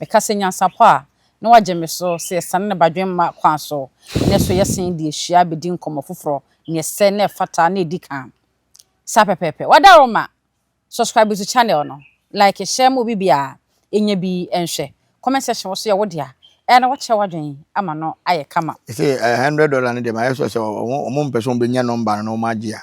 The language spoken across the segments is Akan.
Meka sɛ nyansapɔ a, na wagye me so sɛ yɛsane ne badwemma kwan so, na ɛso yɛ sen de ahyia abɛdi nkɔmmɔ foforɔ, nea ɛsɛ na ɛfata na ɛdi kan. Saa pɛpɛɛpɛ. Wada wo ma? Subscribe to channel no, like, share ma obi biara ɛnya bi nhwɛ. Comment section wo nso yɛ wo dea, ɛyɛ a na woakyerɛ w'adwene ama no ayɛ kama. Ɛsɛ a hundred dollar no deɛ mayɛ sure sɛ wɔn wɔn mpɛ sɛ wɔn bɛnya number no na wɔn agye a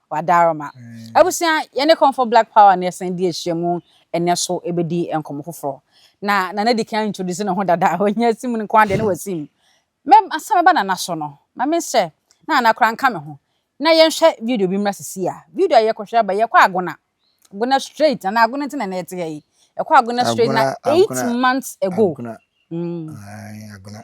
Wadarma. Abusua, yɛne Comfort Black Power na yɛsan di ahyiamu ɛnnɛ so ɛbɛdi nkɔmmɔ foforɔ. Na Nana di kan introduce ne ho dada, ɔnyɛ asim nko ara deɛ na wasim. Me, ansa mɛba Nana so no, ma menhyɛ na Nana koraa nka me ho. Na yɛnhwɛ video bi mmra seesei a. Video a yɛkɔhwɛ aba yi, yɛkɔ Agona. Agona straight, Nana Agona nti na ɛnnɛ yɛte ha yi. Yɛkɔ Agona straight na eight months ago. Mm. Ae, Agona.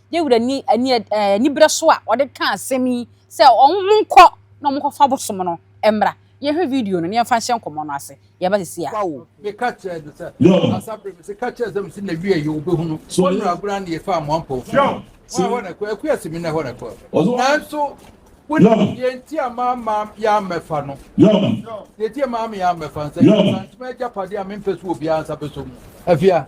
Dawid ani ani anibere so a ɔde kaa asɛm yi sɛ wɔnkɔ na wɔnkɔfa abosom no mmra. Yɛnhwɛ video no na yɛmfa nhyɛ nkɔmmɔ no ase. Yɛba seesei a. Paulo de ka kyerɛɛ no sɛ, Asa bere me se, Ka kyerɛ Zebul se n'awiei ye, obehunu. Wɔnnu agorɔ a na yɛfaa Amoamfoɔ fie no, wɔn a ɛhɔ na ɛkɔɔ, Akuya se me na ɛhɔ na ɛkɔɔ. Nanso wonim deɛ enti a mamma yɛammɛfa no? Deɛ enti a mamma yɛammɛfa no sɛ, ɛfiri sɛ, ankyema yɛ agyapadeɛ a mempɛ sɛ obiara nsa bɛsɔ mu. Afei a.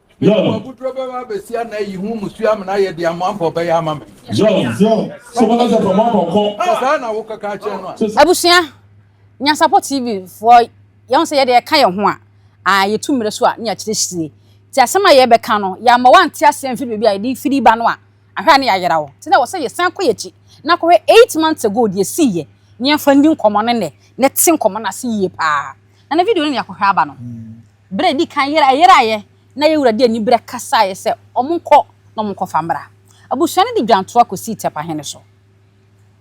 Mede mo abuduro bɛba abɛsia na ayi ho musuo amena ayɛ deɛ amoampɔ bɛyɛ ama me. Sɛ saa na wokɔka akyerɛ no a. Abusua, Nyansapɔ TV foɔ yɛhu sɛ yɛde ɛka yɛn ho a, a yɛtu mmerɛ so a ne yɛakyerɛkyire. Nti asɛm a yɛrebɛka no, yɛamma woante aseɛ amfiri baabi a yɛde firi ba no a, ahwɛ a ne yɛayera wo. Nti na ɛwɔ sɛ yɛsan kɔ yɛn akyi na kɔhwɛ eight months ago deɛ ɛsiiɛ na yɛmfa nni nkɔmmɔ ne nnɛ na te nkɔmmɔ no ase yie paa. Nana video no na yɛakɔhwɛ aba no. Berɛ a ɛdi kan yeraeɛ na yɛn wura de aniberɛ kasaeɛ sɛ, Wɔnkɔ na wɔnkɔfa mmra. Abusua no de dwantoa kɔsii Tɛpahene so.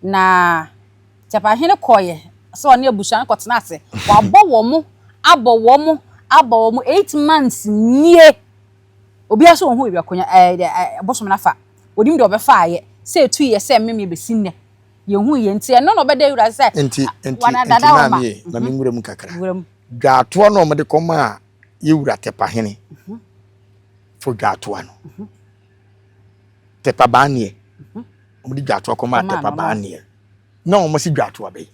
Na Tɛpahene kɔeɛ sɛ ɔne abusua no kɔtena ase. Wabɔ wɔn, abɔ wɔn, abɔ wɔn, eight months nie. Obiara sɛ ɔnhu baabi a ɔkɔnya, ɛɛ deɛ ɛɛ bosom no afa. Wɔnim deɛ wɔbɛfaeɛ. Sɛ ɛtuiɛ sɛ mmemmeɛ bɛsi nnɛ. Yɛnhui yɛ. Nti ɛno na ɔbɛda yɛn wura ase sɛ, Nti, nti, nti Wanadada wɔn ma. maame yei, ma Mhm. menwura mu kakra. Wura mu. Dwatoa no a wɔde kɔmaa yɛn wura Tɛpahene fo dwatoa no. Tɛpa Baaneɛ. Wɔde dwatoa kɔmaa Tɛpa Baaneɛ. Na wɔn si dwatoa bɛyi.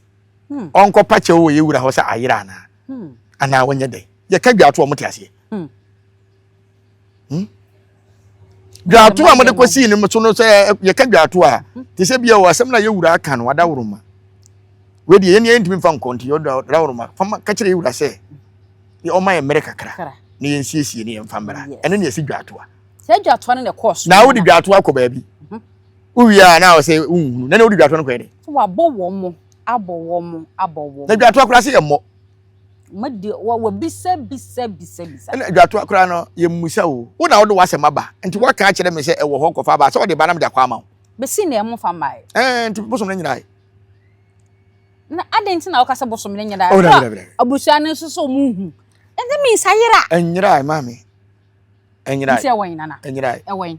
Hmm. Ɔnkɔ pakyɛw wɔ yɛn wura hɔ sɛ ayera anaa. Hmm. Anaa wɔnyɛ dɛ. Yɛka dwatoa wɔn te aseɛ. Hmm. Hmm? dwato a mode kɔsii no so no sɛ yɛka dwato a te sɛ bia wɔ asɛm no a yɛwura aka no adaworoma wei deɛ yɛne yɛntumi mfa nkɔ nti adaworoma fama ka kyerɛ yɛwura sɛ ɔma yɛ mmerɛ kakra na yɛnsiesie ne yɛmfa mmara ɛno ne ɛsi dwato a sɛ dwato no na ɛkɔɔ so na wode dwato akɔ baabi mhm. wowie a na sɛ wonhunu na na wode dwato no kɔɛ de wabɔ wɔ mo abɔ wɔ mo abɔ wɔ mo na dwato akora sɛ yɛmmɔ mo de wɔwɔ bisa bisa bisa bisa. ɛna adwatoa koraa no yɛmmusa o wo na wode w'asɛm aba nti woaka akyerɛ me sɛ ɛwɔ hɔ kɔfa aba sɛ ɔde ba na mede akɔ ama wo bɛsi na ɛmo fa mmae ɛɛ nti bosom no nyinae na adɛn nti na woka sɛ bosom no nyinae oh, na abusua no nso sɛ ɔmo nhu ɛnti me nsa yera ɛnyerae ma me ɛnyerae nti ɛwɔ nana ɛnyerae ɛwɔ yi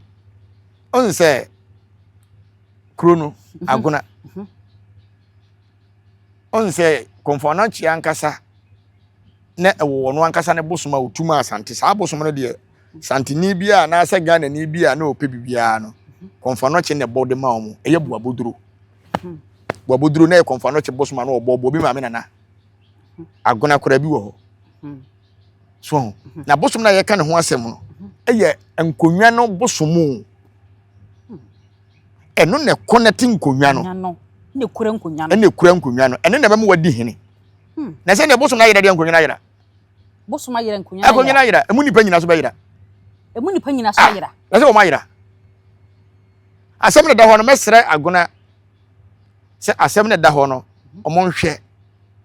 ɔn sɛ kuro no mhm. agona mhm. Ɔnsɛ Komfoanakyia ankasa na ɛwɔ ɔno ankasa ne bosom a otu ma Asante. Saa bosom no deɛ Santini bi a anaasɛ Ghanani bi a na ɔpɛ biribiara no, Komfoanɔkye na ɛbɔ de ma wɔn. Ɛyɛ Boaboduro. Hmm. Boaboduro na ɛyɛ Komfoanɔkye bosom a na ɔbɔ bɔ bi maame nana. Hmm. Agona koraa bi wɔ hɔ. Hmm. So ho. Na bosom no a yɛka ne ho asɛm no, ɛyɛ nkonnwa no bosom o. Ɛno na ɛkɔ na ɛte nkonnwa no. Ɛna ɛkura nkonnwa no. Ɛna ɛkura nkonnwa no. Ɛno na ɛbɛma wadi hene. Hmm. Na sɛ nea bosom no ayera deɛ nkonnwa no ayera. Bosom ayera nkonnwa no ayera. Nkonnwa no ayera. Emu nipa nyina so bɛyera. Emu nipa nyina so ah, ayera. Na sɛ wɔn ayera. Asɛm na ɛda hɔ no mɛsrɛ agona sɛ asɛm na ɛda hɔ no wɔn nhwɛ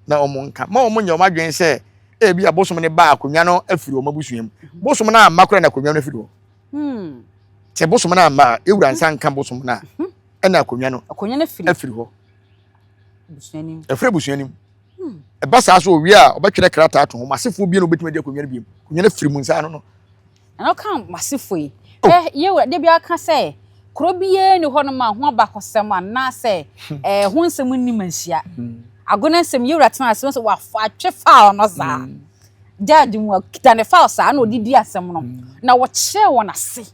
na wɔn nka ma wɔn nyɛ wɔn adwene sɛ ebi abosom no ba akonnwa no afiri wɔn abusua mu. Bosom no amma kora na akonnwa no afiri hɔ. Hmm. sɛ bosom no amma a ewura nsa nka bosom no a hmm. ɛna akonnwa no akonnwa no firi afiri hɔ busuanim ɛfiri busuanim hmm. ɛba saa so owie a ɔbɛtwerɛ krataa to ho masefoɔ bie na obɛtumi adi akonnwa no biem akonnwa no firi mu nsa ano no ɛna ɔka masefoɔ yi oh. ɛ yɛwura de bi aka sɛ kuro biara ni hɔ nom a ho abakɔsɛm anaasɛ hmm. ɛɛ ho nsɛm nni ma nhyia agona nsɛm yɛwura tena ase no sɛ wafa atwe faa ɔno saa Dad mu a, ɔkita ne file saa na ɔde di asɛm no, na wɔkyerɛɛ wɔn ase.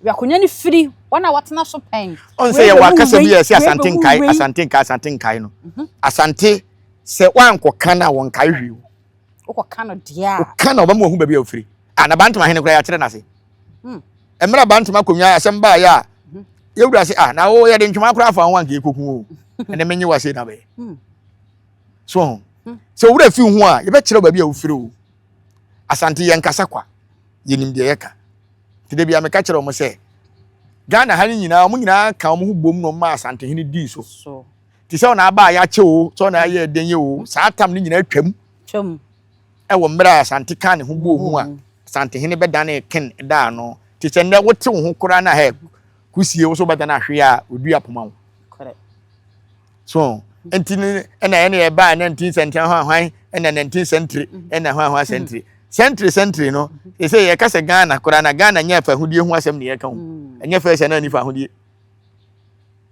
Wei akonnwa no firi wɔn a wɔatena so pɛn. Ɔn sɛ yɛwɔ akasa bi a ɛsɛ asante nkae, asante nkae, asante nkae no. Mhm. Asante sɛ wankɔka no a wɔnkae hwee o. Wokɔka no deɛ a. Woka na ɔbɛma wahu baabi a wofiri. A na Bantama hene koraa yɛakyerɛ no ase. Hmm. Mmerɛ Bantama akonnwa asɛm baeɛ a mhm. yɛwura se a na wo yɛde ntwoma koraa fa ho anka yɛkɔku o. Ɛnɛ menye wase na bɛyɛ. Hmm. so ho hmm. sɛ owura fi ho a yɛbɛkyerɛ baabi a wofiri o asante yɛn kasa kwa yɛnim deɛ yɛka nti da bia meka kyerɛ wɔn sɛ ghana ha no nyinaa wɔn nyinaa ka wɔn ho bom na wɔn ma asante hene dii so te sɛ wɔn aba a yɛakyɛ o sɛ wɔn ayɛ ɛdɛn yɛ o saa tam no nyinaa twam ɛwɔ mmerɛ a asante ka ne ho bɔ ho a hmm. asante hene bɛdane ken daa no te sɛ nnɛ wote wo ho koraa na hɛ kusie wo so bɛdane ahwe a ɔdua poma wo so nti no ɛna ɛna ɛbaa na nti sɛntiri hwan hwan ɛna na nti sɛntiri ɛna hwan hwan sɛntiri sɛntiri sɛntiri no ɛsɛ yɛ kasa ghana koraa na ghana nyɛ fɛ ahodie ho asɛm ne yɛ ka ho mm. ɛnyɛ fɛ sɛ na nifa ahodie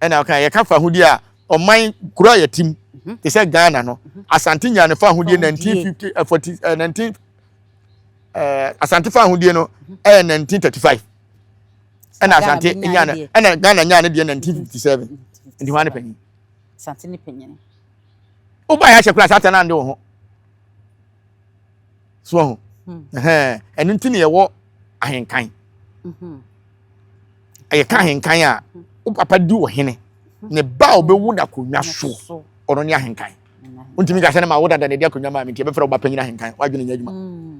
ɛna ɔka yɛ ka fa ahodie a ɔman kuro a yɛtim mhm. te sɛ ghana no mhm. asante nya ne fa ahodie nineteen fifty eh, forty eh, nineteen eh, asante fa ahodie no mhm. ɛyɛ nineteen thirty five. ɛna asante nyaa no ɛna ghana nyaa no deɛ nineteen fifty seven nti hwan ne panyin asante ne panyin woba yɛ ahyɛ kora asante no ande wo ho so ho ɛno nti ne yɛwɔ ahenkan mhm. ɛyɛ ka ahenkan a wo papa di wɔ hene ne ba a ɔbɛwu da konwa so ɔno ne ahenkan wontumi ka sɛ ne ma wo dada na ɛdi akonnwa maa me nti ɛbɛfrɛ wo ba panyin ahenkan woadwene nya adwuma mm.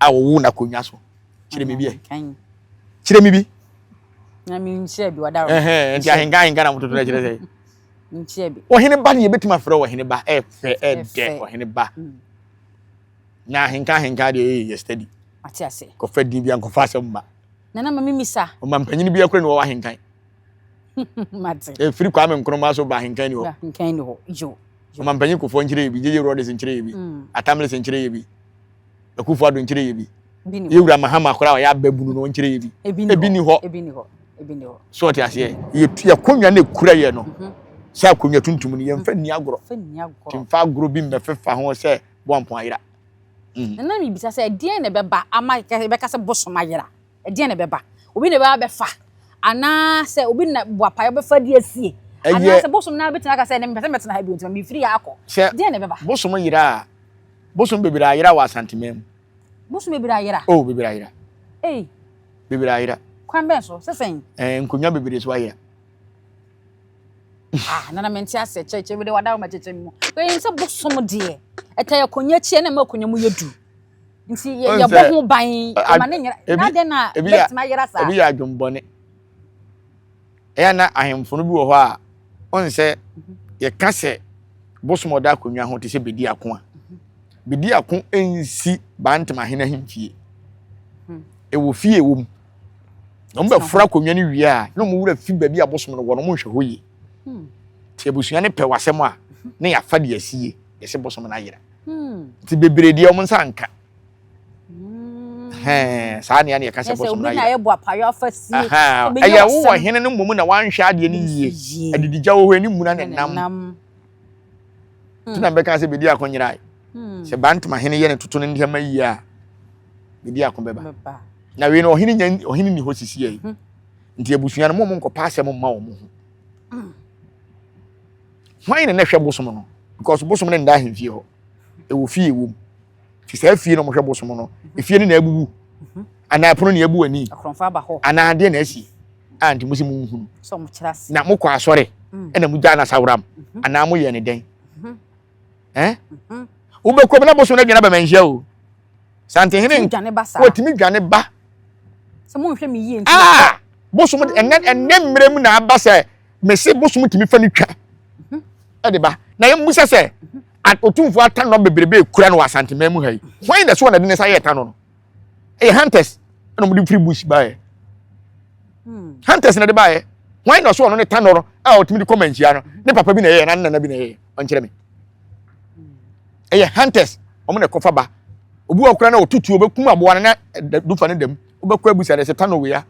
a wɔwoo no akonnwa so kyerɛ me bi ɛ kyerɛ me bi na menkyerɛ bi ɔda hɔ nti ahenka ahenka na mototo no kyerɛ sɛ nkyerɛ bi ɔhene ba ne yɛbɛtumi afrɛ ɔhene ba ɛfɛ ɛdɛ ɔhene ba mm. na ahenka ahenka deɛ ɛyɛ yɛ study ate ase kɔfa din bi ankɔfa asɛm ba nana ma memisa ɔma mpanyini bi akora ne wɔwɔ ahenkan mate ɛfiri kwame nkroma so ba henkan ni hɔ henkan ni hɔ yo ɔma mpanyin kofoɔ nkyerɛ yɛ bi gyegye rodes nkyerɛ yɛ bi mm. atamles nkyerɛ yɛ bi akufo ado nkyerɛ yɛ bi yɛwura mahama koraa ɔyɛ ababunu no nkyerɛ yɛ bi ebi ni hɔ ebi ni hɔ ebi ni hɔ so ɔte aseɛ yɛ akonnwa no ekura yɛ no mhm. sɛ akonnwa tuntum no yɛmfa nni agorɔ timfa agorɔ bi mmɛfefa ho sɛ boampɔn ayera mhm. na na mebisa sɛ ɛdeɛn na ɛbɛba ama bɛka sɛ bosom ayera Ɛdeɛn na ɛbɛba? Obi na ɛbɛba bɛfa? Anaa sɛ obi na boapa ɛbɛfa de asie? Anaa sɛ bosom no ara bɛtumi aka sɛ ɛnɛ mepɛ sɛ mɛtena ha bio nti ma mefiri ha akɔ? Deɛn na ɛbɛba? Sɛ bosom yera a, bosom bebree ayera wɔ Asanteman mu. Bosom bebree ayera? Oh, bebree ayera. Ei. Bebree ayera. Kwan bɛn so? Sɛ sɛn? Eh, nkonnwa bebree so ayera. ah nana mente asɛ kyɛkyɛ bi de wada ma kyɛkyɛ mu kɔyɛ sɛ bosom deɛ ɛta yɛ akonnwa akyi na ma akonnwa mu yɛ du nti yɛbɔ ho ban ɛma ne nyera na dɛn na bɛtumi ayera saa ebi yɛ adwembɔne ɛyɛ na ahemfo no bi wɔ hɔ a ɔn sɛ mhm. yɛka sɛ bosom ɔda akonnwa ho te sɛ bedi ako a mhm. bedi ako nsi bantam ahene ahemfie mhm. ɛwɔ fie wɔ mu wɔn bɛ fura akonnwa no wie a na wɔn wura fi baabi a bosom no wɔ no wɔn nhwɛ hɔ yie hmm. te abusua no pɛ wɔ asɛm a na yɛafa de asie yɛsɛ bosom no ayera nti bebree deɛ wɔn nsa nka hmm. saa nea ne yɛka sɛ bɔsom no ayɛ ɛyɛ wowɔ hene no mmom na wanhwɛ adeɛ no yie adididya wɔ hɔ ani mmuna ne nam nti na mbɛka sɛ bɛdi ako nyerae hmm. sɛ bantama hene yɛ ne toto no nneɛma yie a bɛdi ako bɛba na wei no ɔhene nya ɔhene ni hɔ sisi yɛ hmm. nti abusua no mo mo nkɔpa asɛm mma wɔn ho Hwan na na ɛhwɛ bosom no? Because bosom no nda ahemfie hɔ. Ɛwɔ fie ɛwɔ mu. Nti saa fie na wɔhwɛ bosom no. Efie no na abubu. Mhm. Anaa ɛpono na abu ani. Anaa adeɛ na asi. A nti mo sɛ mo nhunu. Na mokɔ asɔre mm. ɛna mo gya no asaworam. Mhm. Anaa moyɛ ne dɛn? Mhm. Eh? Wobɛkɔ mu na bosom no adwane aba manhyia o. santehene Tumi dwane ba saa. o tumi dwane ba Sɛ monhwɛ me yie nti na aa kɔ. bosom de- ɛnɛ ɛnɛ mmerɛ mu na aba sɛ mese bosom tumi fa no twa ɛde ba na yɛmmusa sɛ a- otumfoɔ atannɔ bebrebe ekura no wɔ asanteman mu ha yi hwan na ɛso na ɛde ne nsa yɛ ɛtannɔ no ɛyɛ hunters ɛna wɔde firi bush baeɛ Hmm. hunters na ɛde baeɛ hwan na ɔso ɔno ne tannɔ no a ɔtumi de kɔ manhyia no ne papa bi na ɛyɛ na ne nana bi na ɛyɛ ɔnkyerɛ me ɛyɛ hunters wɔn na ɛkɔfa ba obi wɔ kora na ɔtutuo bɛkum aboa no na dufa no dam wobɛkɔ abusa dɛ sɛ tanɔ wei a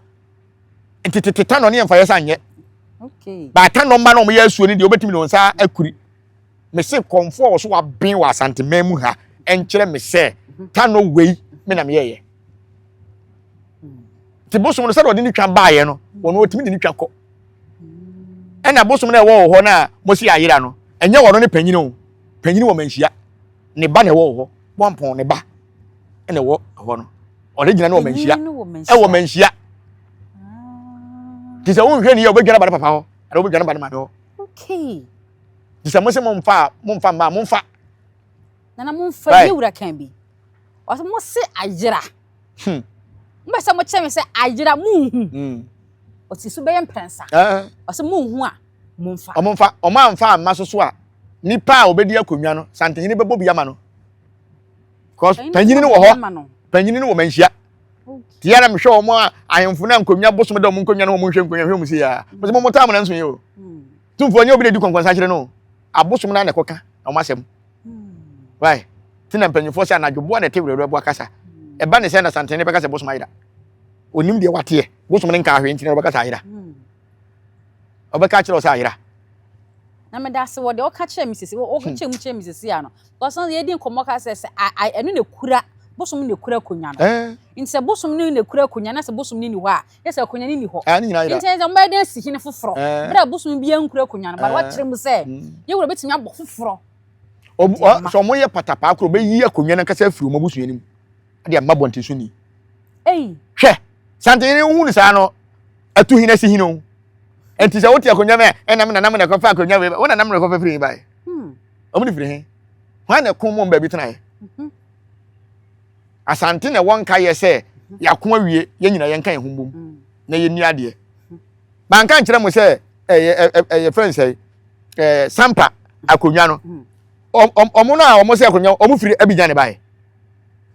ntetete tanɔ ne yɛmfa yɛ sa nyɛ baatanɔ mma na wɔyɛ asuo no deɛ wobɛtumi ne wɔn nsa akuri me se kɔmfoɔ wɔ so waben wɔ asanteman mu ha ɛnkyerɛ me sɛ mhm. tanɔ wei me na meyɛyɛ nti bosom no sɛdeɛ ɔde ne twa baeɛ no wɔn wɔtumi de ne twa kɔ ɛna bosom no ɛwɔ wɔ hɔ no a mosi ayera no ɛnyɛ wɔn ne panyin o panyin wɔ manhyia ne ba na ɛwɔ hɔ bɔnpɔn ne ba na ɛwɔ hɔ no ɔde gyina ne wɔ manhyia ɛwɔ manhyia te sɛ wonhwɛ ne yɛ wobɛdwa no ba ne papa hɔ ɛna wobɛdwa no ba ne maame hɔ te sɛ mo sɛ momfa momfa mmaa momfa nana momfa yɛ wura kan bi ɔsɛ mo se ayera hmm. mbɛ sɛ mo kyerɛ me sɛ ayera monhu hmm. ɔsi so bɛyɛ mprɛnsa ɔsɛ monhu a momfa. Wɔmfa, wɔn amfa amma so so a, nipa a obedi akonnwa no, santehene bɛbɔ bi ama no. Because panyini no wɔ hɔ, panyini no wɔ manhyia. Ti yara mehwɛ wɔn a ahemfo na nkonnwa bosom da wɔn nkonnwa no wɔn nhwɛ nkonnwa hwɛ wɔn si ya. Mese wɔn taa mo na nso yɛ o. Tumfoɔ nyɛ obi na edi kɔnkɔnsa kyerɛ no. Abosom na na ɛkɔka wɔn asɛm. Why? Ti na mpanyinfoɔ sɛ anadwoboa na ɛte werɛwerɛ boa kasa. Ɛba ne sɛ na santehene bɛka sɛ bosom ayera. Onim deɛ wateɛ. Bosom no nka ahwɛ nti na ɔbɛka sɛ ayera. ɔbɛka akyerɛ wo sɛ ayera na meda ase wɔ deɛ ɔka kyerɛ me sese ɔka hmm. kyerɛ mu kyerɛ me sese ano because na yɛdi nkɔmɔ ka sɛ sɛ ɛno na ekura bosom no na ekura akonnwa no eh. nti sɛ bosom no na ekura akonnwa na sɛ bosom no ni hɔ a yɛ sɛ akonnwa no ni hɔ eh, nti sɛ wɔn bɛyɛ dɛn si hene foforɔ eh. bere a bosom bi ankura akonnwa no ba wakyerɛ mu sɛ hmm. yɛ wura betumi abɔ foforɔ sɛ wɔn yɛ patapaa koro bɛyi akonnwa no ankasa afiri wɔn abusua no mu. ɛde ama bɔnten so ni hwɛ santenyini wohu no saa no atu hin asi hin o nti sɛ wote akonnwa mu a ɛnam nanam na ɛkɔfa akonnwa wei wo nanam na ɛkɔfa firi bae hmm. ɔmo ne firi he hwan na ɛko mom baabi tenaeɛ mhm. asante na ɛwɔ nka yɛ sɛ mhm. yɛako awie yɛn nyina yɛnka yɛn ho mbom hmm. na yɛnni adeɛ hmm. manka nkyerɛ mo sɛ ɛyɛ ɛyɛ fɛn sɛ ɛɛ sampa akonnwa no ɔmo no a ɔmo sɛ akonnwa ɔmo firi abigyan ne bae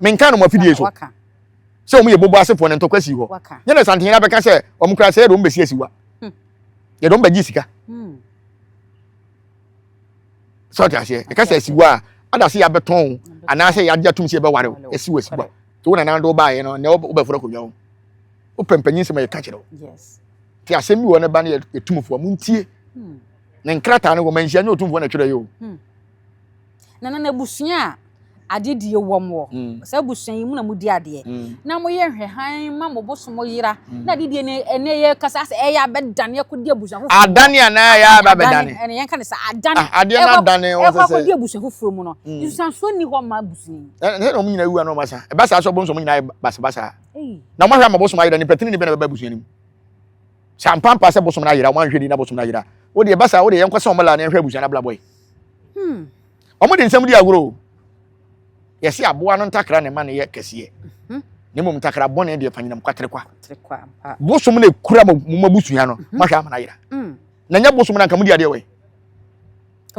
menka no mo afidie so sɛ wɔn yɛ bobo asefoɔ no ntɔkwa sii hɔ nyɛ na santen yɛn abɛka sɛ wɔn kura sɛ yɛde wɔn bɛsi asiwa hmm. yɛde wɔn bɛgye sika hmm. sɛ ɔte aseɛ ɛka sɛ asiwa a ada sɛ yɛabɛtɔn anaasɛ yɛagye atom sɛ yɛbɛware wo ɛsi wɔ asiwa to wo nanando wobaeɛ no na wobɛforo akonnwa ho wopɛ mpanyin sɛm a yɛka kyerɛ wo nti asɛm bi wɔ ne ba no yɛtumfoɔ montie hmm. ne nkrataa no wɔ manhyia nyɛ ɔtumfoɔ na twerɛ yɛ o na na n'abusua a adedie wɔm wɔ mm. saa abusua yi mu na modi adeɛ mm. na moyɛ nhwɛhan ma mo bosom yera mm. na adedie no ɛnɛ yɛ kasa sɛ ɛyɛ abɛdane akɔdi abusua foforɔ adane anaa ɛyɛ abɛdane ɛnɛ yɛnka ne sɛ adane ah, adeɛ no adane wɔ sɛ ɛkɔ akɔdi abusua foforɔ mu no nsusansuo nni hɔ ma abusua yi ɛnɛ na wɔn nyinaa wua na wɔn asa ɛba saa so wɔn nso wɔn nyinaa basabasa na wɔn ahwɛ ama bosom ayera ne pɛtini ne bɛ na bɛba abusua no mu sɛ ampampa sɛ bosom no ayera wɔn ahwɛ ni na bosom no ayera wode ɛba saa wode yɛnkɔ sɛ wɔn la na yɛnhwɛ abusua no abrabɔ yi Hmm. Wɔn de nsɛm di agorɔ o. Yɛsi aboa no ntakra na ɛma no yɛ kɛseɛ. Mhm. Na mmom ntakra bɔne deɛ panyinam kwaterekwa. Bosom na ekura mo mo abusua no. Mhm. Mahwɛ amana yera. Hmm. Na nyɛ bosom na nka mo di adeɛ wɔ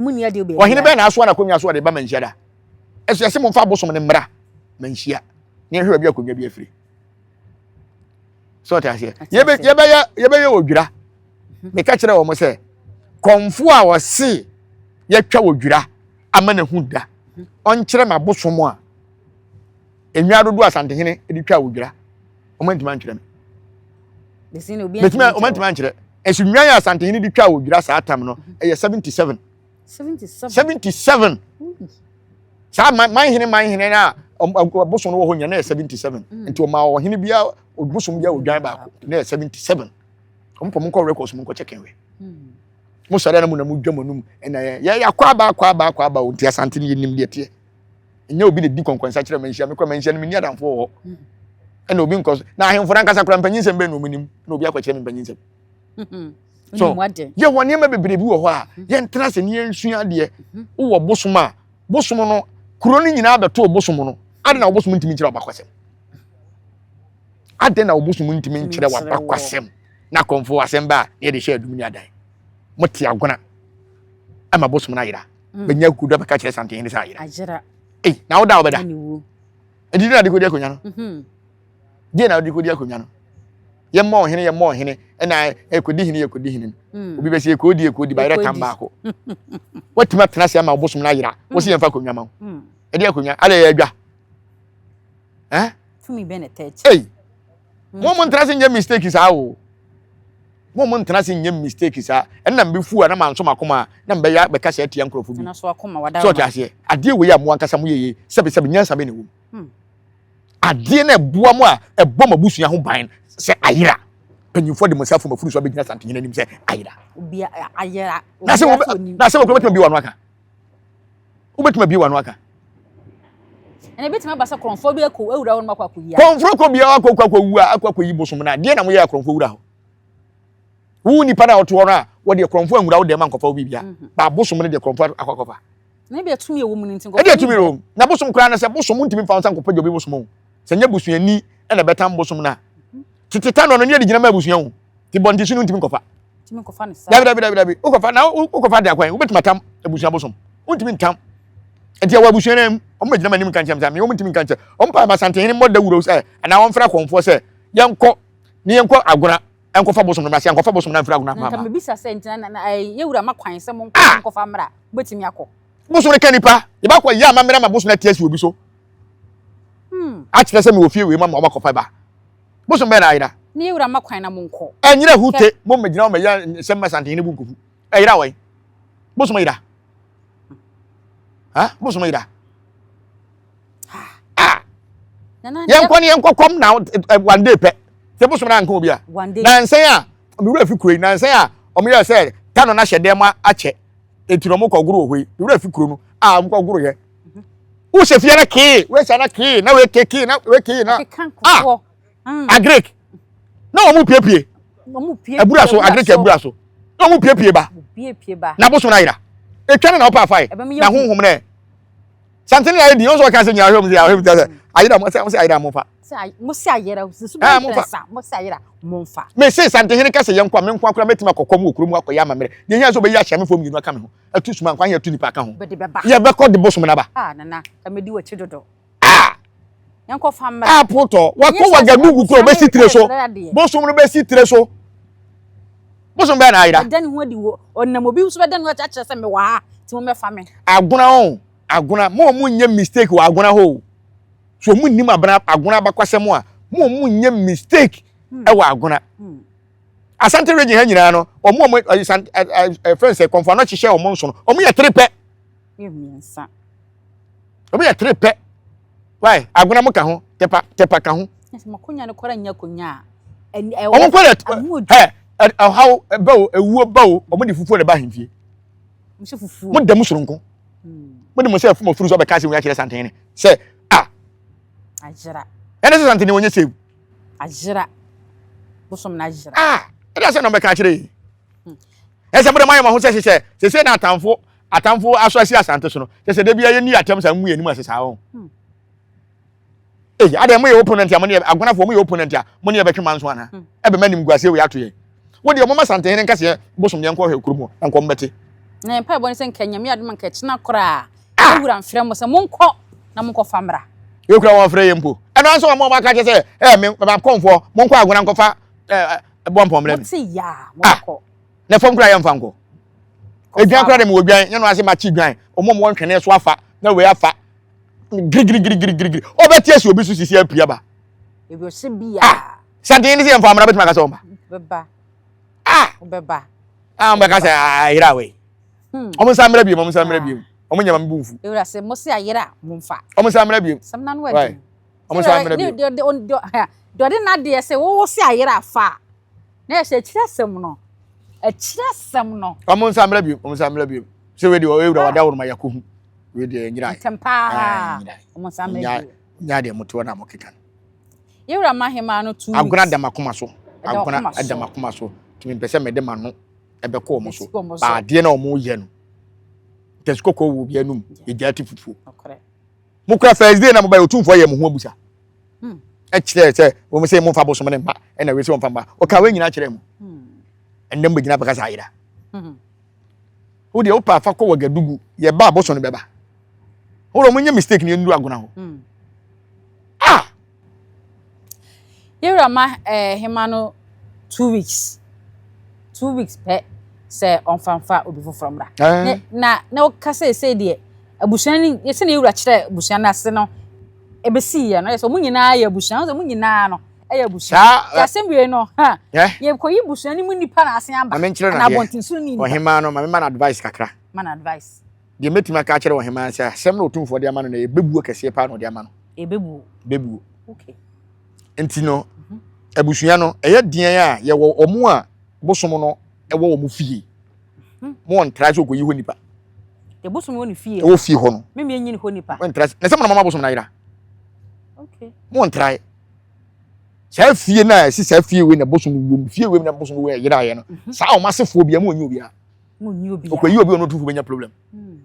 ɔhene bɛn na asoa n'akonnwa so ɔde ba manhyia da ɛso ɛsɛ mo mfa abosom ne mmara manhyia ne ɛhwɛ baabi akonnwa bi afiri so ɔte aseɛ yɛbɛyɛ yɛbɛyɛ odwira mhm. meka kyerɛ wɔn sɛ kɔnfo a wɔse yɛtwa odwira ama ne ho da mhm. ɔnkyerɛ ma bosom a enwa dodo asantehene de twa odwira wɔn ntoma nkyerɛ me betumi wɔn ntoma nkyerɛ ɛsi nwa yɛ asantehene de twa odwira saa tam no mhm. ɛyɛ seventy seven. seventy seven saa man hene man hene na bosom no wɔ hɔ nyina na yɛ seventy seven mm. nti ɔma ɔhene bia bosom bia odwan baako na yɛ seventy seven ɔmo pɔ mo nkɔ records mo nkɔ kyɛkɛn wɛ mm. mo sɔrɔ na mo na mo dwa mo anum ɛna yɛ yɛ yɛ akɔ aba akɔ aba akɔ aba o nti asante no yɛ nim deɛ teɛ nyɛ obi na di kɔnkɔnsa kyerɛ ma nhyia mekɔ ma nhyia no menni adamfo wɔ hɔ mm. ɛna obi nkɔ so na ahemfo no ankasa kora mpanyinsɛm bɛn na ɔmo nim na obi akɔkyerɛ me mpanyinsɛm so yɛ wɔ nneɛma bebree bi wɔ hɔ a mhm. yɛntena sɛ ne yɛnsua adeɛ mhm. wowɔ bosom a bosom no kuro no nyinaa bɛto bosom no ade na wobosom ntumi nkyerɛ wabakwasɛm ade na wobosom ntumi nkyerɛ wabakwasɛm na kɔmfo asɛm ba a na yɛde hyɛ adum ne adan mote agona ama bosom no ayera mm. bɛnya kuda bɛka kyerɛ santen ne sɛ ayera na woda wobɛda ɛdidi na de kɔdi akonnwa no mhm. deɛ na wode kɔdi akonnwa no yɛmmɔ ɔhene yɛmmɔ ɔhene ɛna ɛkɔdi hene yɛkɔdi hene no hmm. obi bɛsɛ ɛkɔdi ɛkɔdi bayerɛ tam baako watumi atena ase ama wobosom no ayera hmm. wo sɛ yɛmfa akonnwa ma wo hmm. ɛde akonnwa alɛ yɛ adwa ei mo mo ntena se nyɛ mistake saa o mo mo ntena se nyɛ mistake saa ɛnna mbi fu a na manso makoma a na mbɛyɛ bɛka sɛ atia nkurɔfo bi sɛ ɔte aseɛ adeɛ wei a mo ankasa mo yɛyɛ sɛbesɛbe nyansa bɛ na ɛwɔ mu Hmm. Adeɛ na ɛboa mu a ɛbɔ mo abusua ho ban sɛ ayera. Mpanyinfoɔ de mo nsa fom afuru so abɛgyina santenyin anim sɛ ayera. Obi ayera. Na sɛ wɔbɛ na sɛ wɔkura bɛtuma bi wɔn aka. Wobɛtuma bi wɔn aka. Ɛna ebi tuma ba sɛ kɔnfɔ bi akɔ awura wɔn akɔ akɔ yi. Kɔnfɔ kɔ biara akɔ akɔ akɔ wura akɔ akɔ yi bosom na deɛ na mo yɛ akɔnfɔ wura hɔ wo nipa na ɔtoɔ no a wɔde korɔmfo anwura wo dɛm ankɔfa wo biribia mhm. baabosom no deɛ korɔmfo akɔkɔfa Na ebi atumi ɛwɔ mu no nti nkɔfo. Ebi atumi ɛwɔ mu. Na bosom koraa no sɛ bosom ntumi nfa nsa nkɔpɛ gya obi bosom o. Sɛ nyɛ busuani ɛna ɛbɛtam bosom na. Tete ta no no nyɛ de gyina ma abusua o. Ti bɔ nti so no ntumi nkɔfa. Ntumi nkɔfa ne saa. Dabi dabi dabi dabi. Wokɔfa na wokɔfa de akwan. Wobɛtumi atam abusua bosom. Wontumi ntam. Nti ɛwɔ abusua no mu. Wɔn bɛgyina ma anim nka nkyɛn sɛ me wɔn ntumi nka nkyɛn. Wɔn paa ma santehene mmɔ dawuro sɛ anaa wɔn mfra kɔnfoɔ sɛ yɛnkɔ ne yɛnkɔ agona Ɛnkɔfa bosom no mmra, sɛ ɛnkɔfa bosom no amfiri agona mma. Na nka mebisa sɛ, Nti na, na, ɛɛ, yɛn wura ma kwan sɛ monkɔ, ah! monkɔfa mmra, mobɛtumi akɔ. Bosom no ka nipa, yɛbɛkɔ yɛ amammerɛ ma bosom no ati asi obi so. Hmm. Akyerɛ sɛ mewɔ fie wei ma ma wɔbɛkɔfa ba. Bosom bɛn na ayera? Ne yɛwura ma kwan na monkɔ. Ɛnyera hute, mo mmɛgyina hɔ mɛyɛ nsɛm ma santen ne bu nkofu. Ɛyera wɔn. Bosom yera. Ha? Bosom yera. ah yɛn kɔ ne yɛn kɔ kɔm na one day pɛ sɛ bosom na nka obi a na nsɛn a mi wura fi kuro yi na nsɛn a wɔn yɛ sɛ tano na hyɛ dɛm akyɛ eti na wɔn kɔ goro wɔ hɔ yi mi wura fi kuro no a wɔn kɔ goro yɛ wohyɛ fie na kee wohyɛ na kee na weke kee na weke na ah agric na wɔn piepie abura so agric abura so na wɔn piepie ba na bosom na yira etwa ne na ɔpa afa yi na honhom nɛ. Something like the also can say you are home, you are home. Ayira mo say mo say ayira mo fa. Mo say ayira mo say ayira mo fa. Mo say ayira mo fa. Me say something here kase yɛn kwa me nkwa kura metuma kɔkɔ mu okuru mu akɔ ya mamere. Ne hia so be ya hyɛ me fo mu yinu aka me ho. Atu suma nkwa ya tu nipa aka ho. Ye be kɔ de bosom na ba. Ah nana, ka me di wachi dodo. Ah. apotɔ wakɔ wagadugu kura ɔbɛsi tire so bosom no bɛsi tire so bosom bɛyɛ n'ayera. ɛda ne ho adi wɔ ɔnam obi nso bɛda ne ho adi akyerɛ sɛ mewɔ ha ti mo mɛfa me. agona o agona mo a mo nyɛ mistake wɔ agona hɔ so ɔmo nnim abena agona abakwasɛm a mo a mo nyɛ mistake hmm. ɛwɔ agona hmm. asante region ha nyinaa no ɔmo a mo ɛfɛn sɛ kɔnfɔ anɔ hyehyɛ ɔmo nso no ɔmo yɛ tiri pɛ. Obi yɛ tere pɛ. Why? Agona mo ka ho, tepa tepa ka ho. Nso makonya no kora nya konya a. Wɔn kɔ yɛ ɛ ɛhaw ɛbɛ o ewuo ba o wɔn de fufuo na ɛba ahemfie. Nso fufuo. Mo da mu soronko. Mo de mo sɛ fuma furu so ɔbɛka sɛ wɔn akyerɛ santene sɛ a. Agyera. Ɛne sɛ santene wɔn nyɛ save. Agyera. Bosom na agyera. Ah ɛna sɛ na ɔbɛka akyerɛ yi. Ɛsɛ mo de mo ayɛ mo ho sɛ hyehyɛ sese na atamfo. atamfo aso asi asante so no kyɛ sɛ da bia yɛnni atɛm saa mmu yɛn anim ase saa ho hmm. ei adɛn moyɛ opponent a mo ne agonafoɔ moyɛ opponent a mo ne yɛbɛtwe ma nso ana hmm. ɛbɛma nim guaseɛ wei ato yɛn wo deɛ ɔmoma santehe ne nkaseɛ bosom deɛ nkɔhwɛ kurom hɔ na nkɔ mbɛte na mpa ɛbɔ ne sɛ nka nyame adom nka ɛkyena koraa ah! wura mfrɛ mo sɛ monkɔ na monkɔfa mmra yɛkura wɔn frɛ yɛ mpo ɛno nso wɔn wɔn aka kyɛ sɛ ɛɛ me makɔmfoɔ monkɔ agona nkɔfa ɛɛ bɔ mpɔmmerɛ mi. mo ti yaa mo kɔ. na fam kura yɛmfa nkɔ edwan kura de mi wɔ dwan nyɛ no ase ma kyi dwan ɔmo ɔmo ntwene so afa na wei afa girigirigirigirigiri ɔbɛ tie si obi so sisi apia ba ebi ɔsi bi a ah, santen ne sɛ yɛmfa amuna bɛtumi akasa ɔmba bɛba ah bɛba ah ɔmba kasa ayera ah, awɛ hmm. ɔmo nsa mmerɛ biem ɔmo nsa mmerɛ biem ɔmo nyɛ ma mi bu nfu ewura sɛ mo se ayera mo nfa ɔmo nsa mmerɛ biem sɛm na no ɛdi ɔmo nsa mmerɛ biem deɛ ɔde n'adeɛ sɛ wɔwɔ se ayera fa. na yɛhyɛ akyiri asɛm no akyiri asɛm no. ɔmo nsa mmerɛ biom ɔmo nsa mmerɛ biom sɛ wei deɛ ɔyɛ wura wade aworo ma yɛkɔ hu wei deɛ nyira yi ntɛm paa ɔmo nsa mmerɛ biom nyaa deɛ mo toɔ na mo keka no. yewura ma hemaa no two weeks agona adam akoma so agona adam akoma so tumi mpɛ sɛ mɛde ma no ɛbɛkɔ ɔmo so baadeɛ na ɔmo yɛ no tɛsikɔkɔɔ wɔ obi anum egya ti fufuo. mokura first day na mobae otumfoɔ yɛ mo ho abusa ɛkyerɛ sɛ wɔn sɛ mo nfa bosom ne mma ɛna wei sɛ wɔn fa mma ɔka wei nyinaa kyerɛ mu ɛnna mo bɛ gyina bɛka saa ayira wo deɛ wopa afa kɔ wɔ gadugu yɛ ba abosom no bɛba wɔn mo nyɛ mistake ne yɛn nuru agona hɔ ah Yɛwura ma ɛɛ hema no two weeks two weeks pɛ sɛ ɔnfanfa obi foforɔ mmra ne na na ɔka sɛ ɛsɛ deɛ abusua no yɛsɛ na yɛwura kyerɛ abusua no ase no ɛbɛsi yɛ no yɛ sɛ ɔmo nyinaa yɛ abusua ɔmo nyinaa no ɛyɛ abusua yɛ asɛm wie no ha yɛkɔyi abusua no mu nipa na asen aba na abɔnten so ni nipa ɔhema no ma me ma no advice kakra ma no advice. Deɛ mɛtumi aka akyerɛ ɔhemaa ne sɛ asɛm na ɔtumfoɔ de ama no na ɛyɛ bɛbuo kɛseɛ paa na ɔde ama no. Ɛbɛbuo. Bɛbuo. Okay. Nti no, mhm. abusua no ɛyɛ deɛn a yɛwɔ ɔmo a bosom no ɛwɔ ɔmo fie. Hmm. Mo wɔn tra sɛ ɔkɔyi hɔ nipa. Deɛ bosom wɔ ne fie. Ɛwɔ fie hɔ no. Mímí enyi ne hɔ nipa. Wɔn tra na sɛ mo na mama bosom na ayira. Okay. Mo wɔn tra saa fie na ɛsi saa fie wei na bosom wɔ mu fie wei na bosom wɔ yɛ ayɛ no mhm. saa ɔmo asefoɔ bi a mo wɔn nyi obiara. okɔyi obi ɔno ɔtumfo bɛnya problem hmm.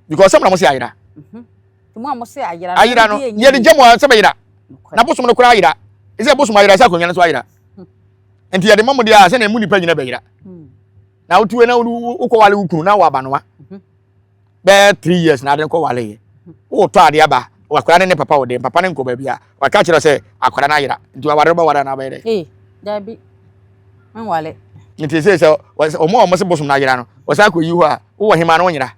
because sɛm na mo se ayera mhm. ayera no yɛde gya mu sɛ bɛyera na bosom no koraa ayera ɛsɛ bosom ayera sɛ akonnwa no so ayera hmm. nti yɛde ma mo deɛ a sɛnea mu nipa nyina bɛyera hmm. na wotuo na wokɔwale wo kunu na wɔ abanoa bɛyɛ three years na ade no kɔ wale yɛ wotɔ ade aba wakora ne ne papa wɔ dɛm papa ne nkɔ baabi a waka kyerɛ sɛ akora no ayera nti waware no bɛware anaa bɛyɛ dɛ. ee dabi nwale. nti sɛ sɛ wɔn a wɔn se bosom no ayera no wɔsan kɔ yi hɔ a wowɔ hema no nyera.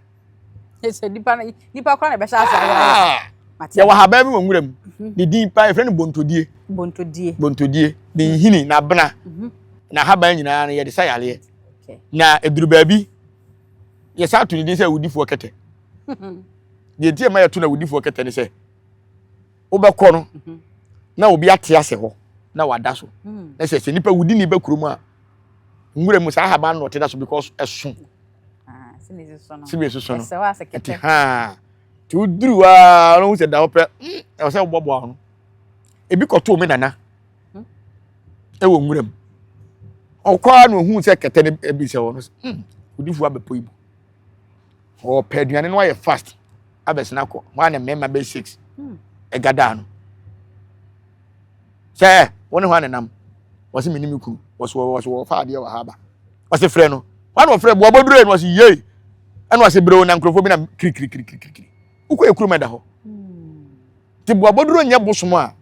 sɛ nipa nipa kora na ɛbɛhyɛ ase ayera. Ah! yɛwɔ ahaban bi wɔ nwura mu mhm. ne din paa yɛfrɛ no bontodie. bontodie. bontodie ne mhm. nhini na bena mhm. na ahaban nyinaa no yɛde sa yareɛ na eduru baabi yɛsan ato ne din sɛ awudifoɔ kɛtɛ deɛ nti ɛma yɛto no awudifoɔ kɛtɛ ne sɛ wobɛkɔ no mhm. na obi ate ase hɔ na wada so mhm. na sɛ sɛ nipa wudi ne ba kurom a nwura mu saa ahaban na ɔte da so because ɛso ah, sebe so so no ɛte haa te woduru a ɔno ho sɛ da hɔ pɛ ɛwɔ sɛ wobɔboa ho ebi kɔtoo me nana hmm? ɛwɔ nwura mu ɔkɔ ara na ohun sɛ kɛtɛ no ebi sɛ wɔn sɛ hmm odifo abɛpɔ ibu ɔpɛ aduane no ayɛ fast abɛsena kɔ wɔn a na mmarima bɛ six hmm. ɛga daa no sɛ wɔn ne hɔ anenam wɔsi mi ni mi kunu wɔsi wɔ wɔsi wɔ ɔfa adeɛ wɔ ha aba wɔsi frɛ no wɔn a wɔfrɛ bu ɔbɔ duro yɛ no wɔsi yie ɛna wɔsi berew na nkurɔfoɔ bi na kirikirikirikiri wokɔ ekuru mɛ da hɔ. nti boabɔduro nyɛ bosom a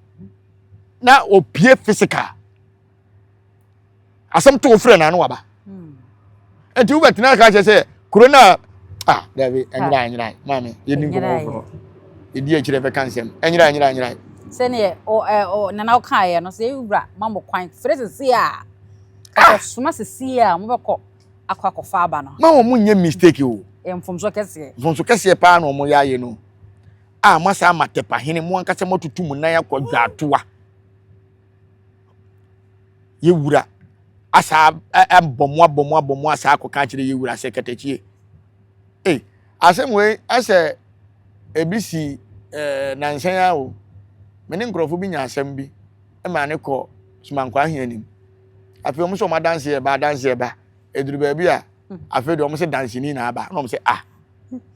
na opie physical asɛm to ofrɛ na ano waba hmm. nti wobɛtena aka kyerɛ sɛ kuro no a ah dabi ɛnyera ɛnyera maame yɛdi nkɔmɔ foforɔ ɛdi akyirɛ bɛka nsɛm ɛnyera ɛnyera ɛnyera sɛneɛ nana wokaeɛ no sɛ ɛwura ma mo kwan frɛ sesie a kakɔsoma sesie a mobɛkɔ akɔ akɔfa aba no ma wɔn nyɛ mistake o mfomso kɛseɛ mfomso kɛseɛ paa na wɔn yɛ ayɛ no a moasa ama tɛpa hene mo ankasa moatutu mo nan akɔ dwaatoa yɛwura asa abɔ mo abɔ mo abɔ mo asa akɔka akyerɛ yɛwura sɛ katakyie ei asɛm wei ɛsɛ ebi si ɛɛ eh, nansɛn a o me ne nkurɔfo bi nya asɛm bi ɛma ne kɔ sumankɔ ahia anim afei wɔn sɛ wɔn adanseɛ ba adanseɛ ba eduru baabi a hmm. afei deɛ wɔn sɛ danseni na aba na wɔn sɛ ah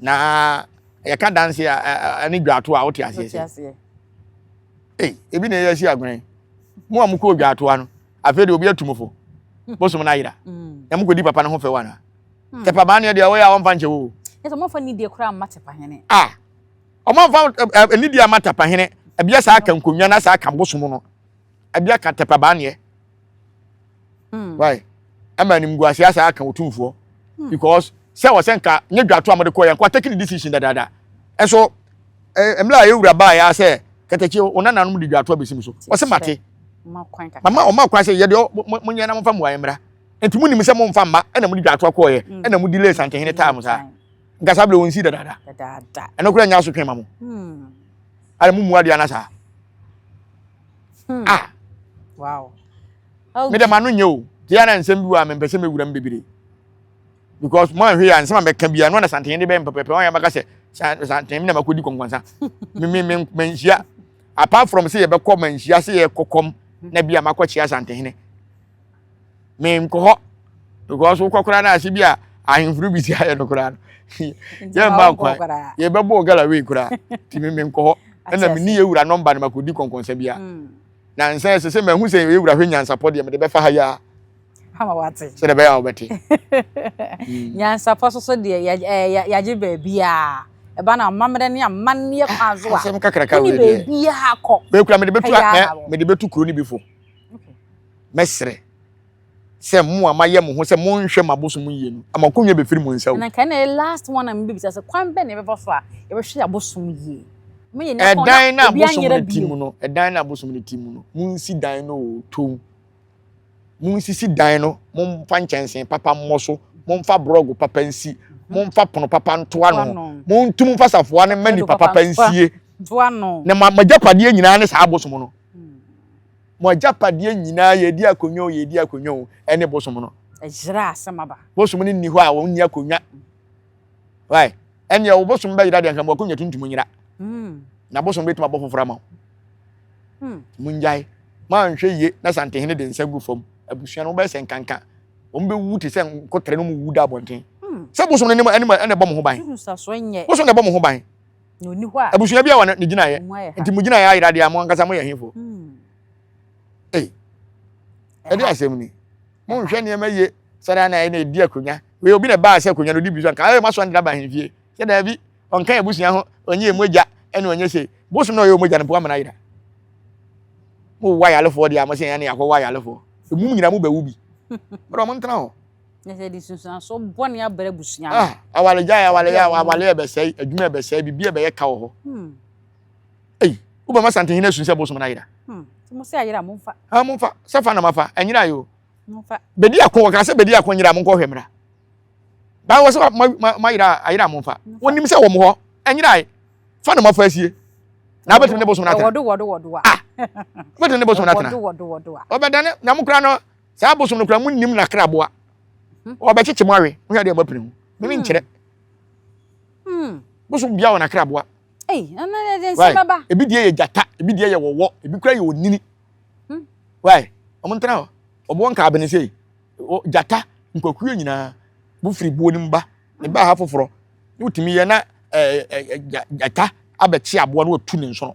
na yɛka danse a ɛne dwato a wote aseɛ sɛ ei ebi na ɛyɛ asi agorɛn mo a mokɔɔ dwaatoa no afei deɛ obi atum fo bosom no ayera mm. na mokɔdi papa no ho fɛ wana hmm. tepa baa neɛ deɛ wɔyɛ a wɔmfa nkyɛ wo ɔmamfa nidie koraa mma tepa hene a ɔmamfa nidie ama tepa hene ɛbia saa ka nkonnwa na saa ka bosom no ɛbia ka tepa baa neɛ hmm. why ɛma animguase asa aka otumfoɔ hmm. because sɛ wɔ sɛ nka nye dwato a mode kɔ yɛ nka take the decision dadaada ɛso mmerɛ a yɛwura baa yɛ sɛ kɛtɛkyi ɔnananom de dwato abɛsim so ɔsɛ mate mama ɔma kwan sɛ yɛdeɛ monyɛ na momfa mmuaeɛ mmra nti monim sɛ momfa mma ɛna mode dwato akɔɔyɛ hmm. ɛna modi lace ankehene taa mo saa nka saa berɛ wɔnsi dadaada ɛno kora nya asotwe ma mo ana momu adeɛ ana saa hmm. ah wow me dɛ ma no nyɛ o tia na nsɛm bi wɔ a mempɛ sɛ mɛwura m bebree because mo anhwɛ yɛ a nsɛm a mɛka bia no na santen de bɛyɛ mpɛpɛpɛ wɔn yɛ bɛka sɛ santen na makɔdi kɔnkɔnsa manhyia apart from sɛ yɛbɛkɔ manhyia sɛ yɛkɔkɔm na bia makɔkyea santehene menkɔ hɔ because wokɔ koraa no ase bi a ahemforo bi si ayɛ no koraa no yɛmma kwan yɛbɛbɔɔ gala wei koraa nti me menkɔ hɔ ɛna menni yɛ wura nɔmba no makɔdi kɔnkɔnsa bi a hmm. na nsa ɛsɛ sɛ mahu sɛ yɛ wura hwɛ nyansapɔ deɛ mede bɛfa ha yi a ama wate sɛ dɛ bɛyɛ a wobɛte hmm. nyansapɔ so so deɛ yɛagye baabiaa ɛba na amammerɛ ne amanneɛ kwan so a asɛm kakraka wei deɛ baabiaa kɔ bɛkura mede bɛtu kuro no bi fo Mɛsrɛ sɛ mo a mayɛ mo ho sɛ monhwɛ m'abosom yie no, mo akonnwa bɛfiri mo nsa o. Na nka ɛna ɛyɛ last one a mebɛbisa sɛ, kwan bɛn na yɛbɛfa so a yɛbɛhwɛ yɛn abosom yie? Moyɛ nnipa a wɔn a obi anyera bio. Ɛdan no abosom no ti mu no, monsi dan no o, toom. Monsisi dan no, momfa nkyɛnsee papa mmɔ so, momfa borɔgo papa nsi, mhm. momfa pono papa nto ano, montum mfa safoa no mma nipa papa nsie. Na magyapadeɛ nyinaa ne saa abosom no. Mo agyapadeɛ nyinaa, yɛredi akonnwa o, yɛredi akonnwa o, ɛne bosom no. Ɛyera asɛm aba. Bosom no nni hɔ a wɔnni akonnwa. Why? Ɛnneɛ wo bosom bɛyera deɛ nka mo akonnwa tuntum nyera. Hmm. Na bosom bɛtumi abɔ foforɔ ama wo. Hmm. Mongyae. Moanhwɛ yie na santehene de nsa gu fam. Abusua no wobɛyɛ sɛ nkanka. Wɔn bɛwu te sɛ nkotere no mu wu da abɔnten. Hmm. Sɛ bosom no ɛne ɛne ɛna ɛbɔ mo ho ban. Bosom na ɛbɔ mo ho ban. na ɔni hɔ a abusua bi a wɔ ne gyinaeɛ nti mo gyinaeɛ ayera deɛ mo ankasa moyɛ hefoɔ hmm. ei ɛde asɛm ni monhwɛ nneɛma yie sɛdeɛ na ɛna ɛdi akonnwa wei obi na ɛbaa sɛ akonnwa no ɔdi bi so anka ɛyɛ masɔ ndra ba ahemfie sɛ daabi ɔnka abusua ho ɔnyɛ ɛmu agya ɛne ɔnyɛ sei bosom na ɔyɛ ɔmu agya no mpo amana ayera mo wa yalefoɔ deɛ a mo sɛ ɛne akɔ wa yalefoɔ ɛmu nyina mo bɛwu bi ɔdɔ mo ntena hɔ na sɛ de nsunsuanso bɔne abrɛ abusua no. Ah, awaregyae, awareɛ, awareɛ ɛbɛsɛe, adwuma ɛbɛsɛe, biribi ɛbɛyɛ ka wɔ hɔ. Hmm. Ei, wobɛma santehene asu sɛ bosom no ayera. Hmm. Mo sɛ ayera, momfa. Ah, momfa. Sɛ fa na mafa, ɛnyera yɛ o. Momfa. Bɛdi ako, wɔka sɛ bɛdi ako nyera, monkɔhwɛ mmra. Baa wɔ sɛ mayera, ayera momfa. Wonim sɛ wɔ mo hɔ, ɛnyera Fa na mafa asie. Na wobɛtumi ne bosom no atena. Wɔdo, wɔdo, wɔdo a. Ah, wobɛtumi ne bosom no atena. Wɔdo, wɔdo, wɔdo a. Ɔbɛdane, na mo kora no, saa abosom no kura mu nim n'akraboa ɔbɛkyekye mu awe wohwɛ adeɛ mapene ho mene hmm. nkyerɛ hmm. bosom bia wɔ n'akraboa ebi deɛ yɛ gyata ebi deɛ yɛ wɔwɔ ebi kura yɛ onini hmm. wai ɔmo ntena hɔ ɔboɔ nka abene sei gyata nkwakuo nyinaa bo firi buo no mba ne baa ha foforɔ ne wotumi yɛ na gyata abɛkye aboa no watu ne nsono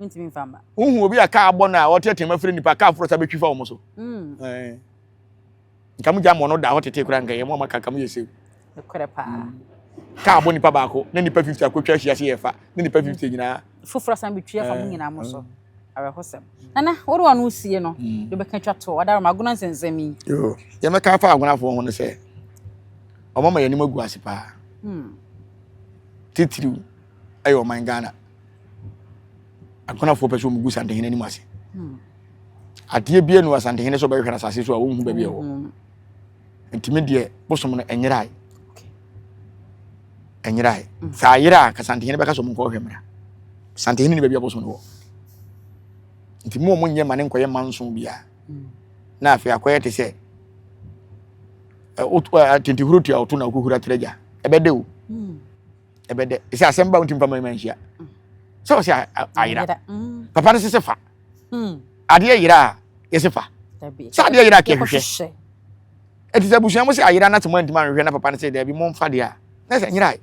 Wontumi mfa mma. Wohu obi a kaa abɔ no a ɔte tema firi nipa kaa foro sa bɛtwi fa wɔn so. Mm. Eh. Nka mo gya mmɔ no da hɔ tete kora nka yɛ mo ama kaka mo yɛ sew. Ɛkorɛ paa. Mm. Kaa abɔ nipa baako na nipa 50 akɔtwa ahyia se yɛ fa na nipa 50 nyinaa. Foforɔ san bɛtwi afa mo eh. nyinaa mo so. Eh. Awerɛhosɛm. Nana, wode wɔn no sie no, mm. de bɛka twa toɔ. Ɔda roma agona nsɛnsɛm yi. Yoo, yɛmɛka afa agonafoɔ ho no sɛ, ɔmama yɛn anim agu ase paa. Hmm. Titiriw ɛyɛ ɔman Ghana. akonafoɔ pɛ sɛ wɔgu santehene anim ase hmm. adeɛ bia nu asantehene sɛ ɔbɛhwehwɛ no asase so a wɔnhu baabi ɛwɔ hmm. ntumi deɛ bosom no ɛnyerae ɛnyerae hmm. sɛ ayerɛ a ka santehene bɛka sɛ ɔmo nkɔhwɛ mmara santehene ne baabi a bosom no wɔ nti mu ɔmo nyɛ ma ne nkɔyɛ manso biara na afei akɔyɛ te sɛ tentehuro tua ɔto na ɔkɔhura trɛgya ɛbɛde o ɛbɛ dɛ ɛsɛ asɛm ba wo ntim pama ma nhyia sɛ wɔ sɛ ayera papa no sese fa hmm. adeɛ yera a yɛse fa sɛ adeɛ yera a kɛhwehwɛ ɛti sɛ abusua mo sɛ ayera no te mo antimi anhwehwɛ na papa no sɛ daabi momfa deɛ a na sɛ nyera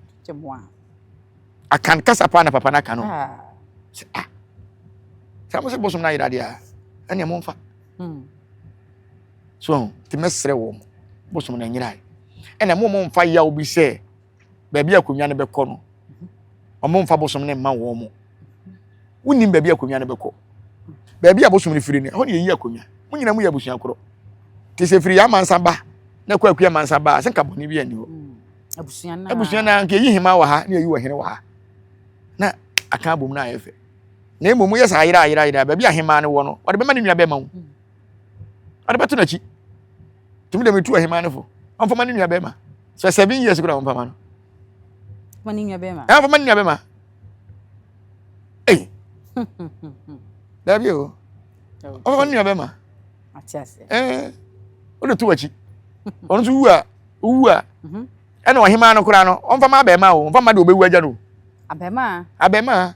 akan kasa paa na papa no aka no ah. sɛ ah sɛ mo sɛ bosom no ayera deɛ a ɛneɛ momfa hmm. so nti mɛserɛ wɔ mo bosom no anyera ɛna mo momfa yaw bi sɛ baabi akonnwa no bɛkɔ no wɔn mfa bosom no mma wɔn mo wonim baabi akonnwa no bɛkɔ baabi a bosom no firi no ɛhɔ na yɛyi akonnwa mo nyina mo yɛ abusua korɔ te sɛ firi yɛ amansa ba na kɔ akua amansa ba a sɛ nka bɔne bi anni hɔ mm, abusua no nka yɛyi hema wɔ ha na yɛyi wɔ hene wɔ ha na aka abom no ayɛ fɛ na mmom moyɛ saa ayerɛ ayerɛ ayerɛ baabi a hema no wɔ no wɔde bɛma ne nua bɛma wo mm. ɔde bɛto n'akyi tumi dɛm etu ɔhemaa no fo ɔnfama ne nua bɛrima sɛ seven years kura ɔnfama no ɔnfama ne nua bɛrima ɔnfama ne nua bɛrima ee dabi o ɔnfama ne nua bɛrima ɛɛ o de to akyi ɔno nso wu a wu a mhm. ɛna ɔhemaa no kura no ɔnfama abɛrima o ɔnfama de ɔbɛwu agya no abɛrima abɛrima.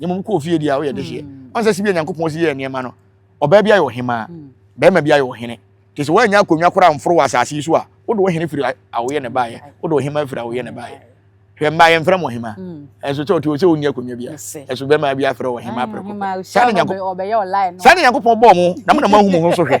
na mmom kɔɔ fie deɛ a woyɛ dehyeɛ hmm. ɔnsɛ si bi a nyankopɔn si yɛ nneɛma no ɔbaa bi ayɛ ɔhemaa hmm. bɛrima bi ayɛ ɔhene te sɛ woanya akonnwa koraa mforo wɔ asase yi so a wode ɔhene firi awoyɛ ne baeɛ wode ɔhemaa firi awoyɛ ne baeɛ hwɛ mmaa yɛmfrɛ mo ɔhemaa hmm. ɛnso sɛ ɔte sɛ ɔnni akonnwa bia ɛso bɛrima bi afrɛ ɔhemaa prɛko sane nyankopɔn bɔɔ mo na mo na moahu mo ho so hwɛ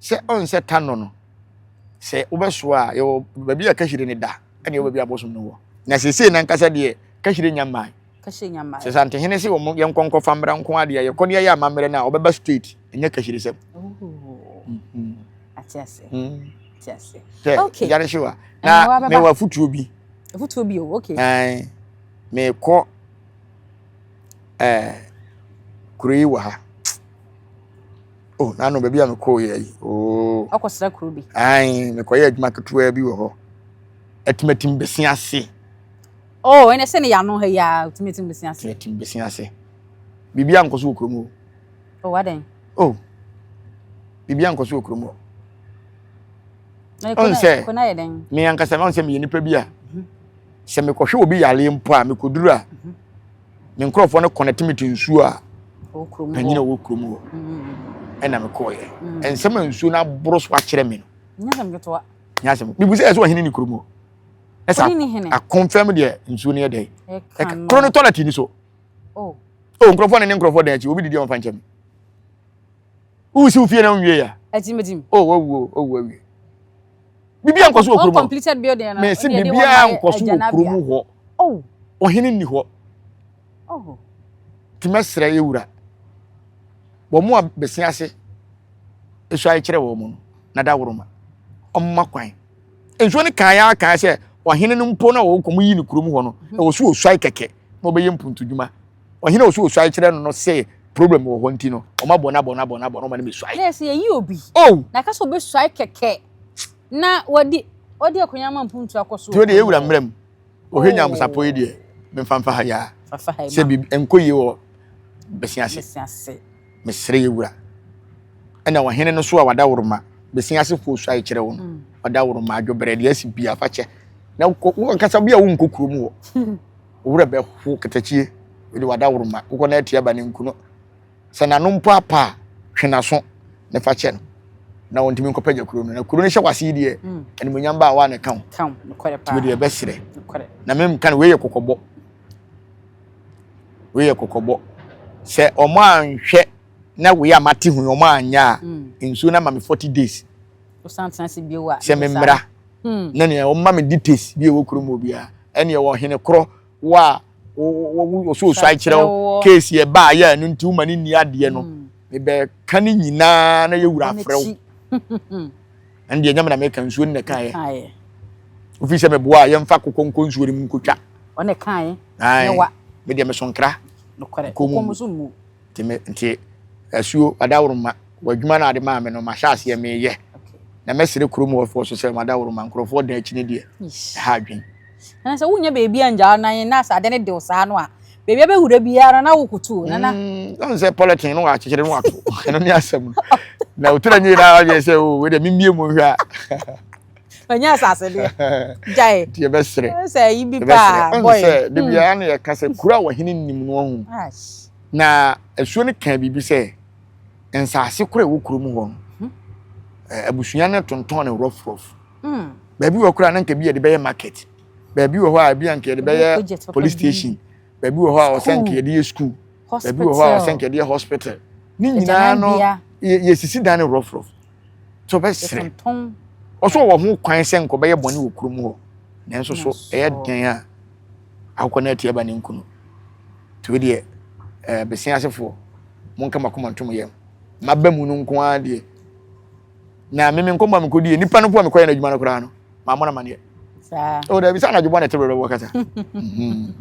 Sɛ ɔnsɛ ta nnɔ no, sɛ wobɛsoa a, yɛwɔ baabi a kahyire no da, ɛne yɛwɔ baabi a abosom no wɔ. Na seesei n'ankasa deɛ, kahyire nnya mmae. Kahyire nnya mmae. Sɛ Santehene se wɔn yɛnkɔ nkɔfa mmra nko ara deɛ a, yɛkɔ na yɛyɛ amammerɛ no a, ɔbɛba straight, ɛnyɛ kahyiresɛm. Ooo, ate ase, ate ase. Hwɛ, okay. yare hyew a, na mewɔ afutuo bi. Afutuo bi o, okay. Ɛn, mekɔ ɛɛ, kuro yi wɔ ha. Oh, nano baabi a mekɔɔ yɛ yi. Oh. Ɔkɔsra kuro bi. Ae, mekɔyɛ adwuma ketewa bi wɔ hɔ. Atimatim besi ase. Oh, ɛnɛ sɛ ne yano ha yi a, atimatim besi ase. Atimatim besi ase. Biribi ankɔ so wɔ kurom o. Oh, adɛn? Oh, biribi ankɔ so wɔ kurom o. Ɔn sɛ, me ankasa, ɔn sɛ meyɛ nipa bi a, mhm. sɛ mekɔhwɛ obi yare mpo a, mekɔduru a, mhm. me nkurɔfoɔ no kɔnɛte me te nsuo a panyin a ɔwɔ kurom hɔ mm. ɛna mekɔɔyɛ mm. nsɛm a nsuo no aboro so akyerɛ me no nyasɛm mebu sɛ ɛsɛ ɔhene ne kurom hɔ ɛsɛ akɔmfɛm deɛ nsuo no yɛ dɛn ɛka koro no tɔlɛte ni so oh. o oh, nkurɔfoɔ ne ne nkurɔfoɔ dan akyi obi didi ɔmfa nkyɛm Who is Ufie na nwie ya? Etim etim. Oh, wawu o, oh, wawu. Bibi ankɔ so wɔ kurom. Completed building na. Mesi bibi ankɔ so wɔ kurom hɔ. Oh. Ohene ni hɔ. Oh. Timesra ewura. Wɔn a besi ase esu akyerɛ wɔn no na da woroma. Ɔmma kwan. Nsuo ne kan ya kan sɛ ɔhene no mpo na wɔn kɔm yi ne kurom hɔ no na wɔso osuai kɛkɛ na ɔbɛyɛ mpuntudwuma ɔhene a ɔsɛ ɔsuae kyerɛ no no sɛ problem wɔ hɔ nti no ɔma bɔ no abɔ no abɔ no abɔ no ɔma no bɛsuae na ɛsɛ yɛyi obi oh! na ka sɛ ɔbɛsuae kɛkɛ na wadi ɔde akonya ma mpuntu akɔ so deɛ ɔde yɛwura mmerɛ mu ɔhwɛ nyamusapɔ yi deɛ memfa mfa ha yɛa sɛ biribi ɛnkɔ yie wɔ bɛsi ase mesrɛ yɛwura ɛna ɔhene no so a wada woroma bɛsi ase fo suae kyerɛ wo no mm. wada woroma adwobrɛ deɛ asi bia fa kyɛ na wokasa bi a wonkɔ kurom wɔ Wo werɛ bɛho katakyie de w'adaworoma kokɔ no atia ba no nku no sɛ n'ano mpo apa a twe n'aso ne fa kyɛ no na wɔntumi nkɔpagya kuro no na kuro no hyɛ w'ase yi deɛ mm. animonyam ba a wa na ɛka wo tumi deɛ bɛserɛ na memka no wei yɛ kɔkɔbɔ wei yɛ kɔkɔbɔ sɛ ɔmo anhwɛ na wei a mate ho ɔmo anyɛ a mm. nsuo no ama me forty days sɛ memmra hmm. na nea wɔma me details bi a ɛwɔ kurom wɔ biara ɛneɛ wɔ hene korɔ wɔ a wɔso ɔsu akyerɛ wo case yɛ baa yɛ ɛno nti woma ne nni adeɛ no hmm. mebɛka ne nyinaa na yɛwura afrɛ wo ɛne deɛ nyame na meka nsuo no na ɛkaeɛ wofii sɛ meboa a yɛmfa kokɔ nkɔ nsuo no mu nkɔtwa medeɛ mesonkra kɔmu Nti me nti asuo adaworoma wɔ adwuma no a ade maa me no mahyɛ aseɛ meyɛ na mɛsere kurom wɔfoɔ so sɛ madaworoma nkurɔfoɔ dan akyi no deɛ ɛha adwen ɛna sɛ wonya baabi a ngyaa nan na sɛ ade no dew saa no a baabi a bɛwura biara na wokotuo nana mm, ɔn sɛ pɔlɛtin no wɔakyekyere no wato ɛno ne asɛm na wotira nyie na ayɛ sɛ o oh, wei deɛ memmie mu nhwɛ a ɔnyɛ asase deɛ gyae deɛ bɛsrɛ sɛ ayi bi paa bɔyɛ sɛ de hmm. biara na yɛka sɛ kuro a wɔhene nim no ahu na asuo no kaa biribi sɛ nsaase koro a ɛwɔ kuro mu hɔ no hmm. eh, abusua no tontɔn no rɔfrɔf hmm. baabi wɔ koro a na nka bi yɛde bɛyɛ market baabi wɔ hɔ a ebi anka yɛde bɛyɛ police station baabi wɔ hɔ a ɔsɛ nka yɛde yɛ school baabi wɔ hɔ a ɔsɛ nka yɛde yɛ hospital ne nyinaa no yɛsisi dan no rɔfrɔf sɛ ɔbɛsere ɔsɛ ɔwɔ ho kwan sɛ nka ɔbɛyɛ bɔne wɔ kurom hɔ nanso so ɛyɛ den a akokɔ no atiaba ne nkunu nti wo deɛ eh, bɛsen asefoɔ monka makoma ntom yɛm maba mu no nko ara deɛ na meme nkɔmmɔ a mekɔdie nnipa no po a mekɔyɛ no adwuma no koraa no maa mo na ma neɛ saa o dabi sɛ anadwo bɔ na ɛte berɛ bɛbɔ kasa mhm.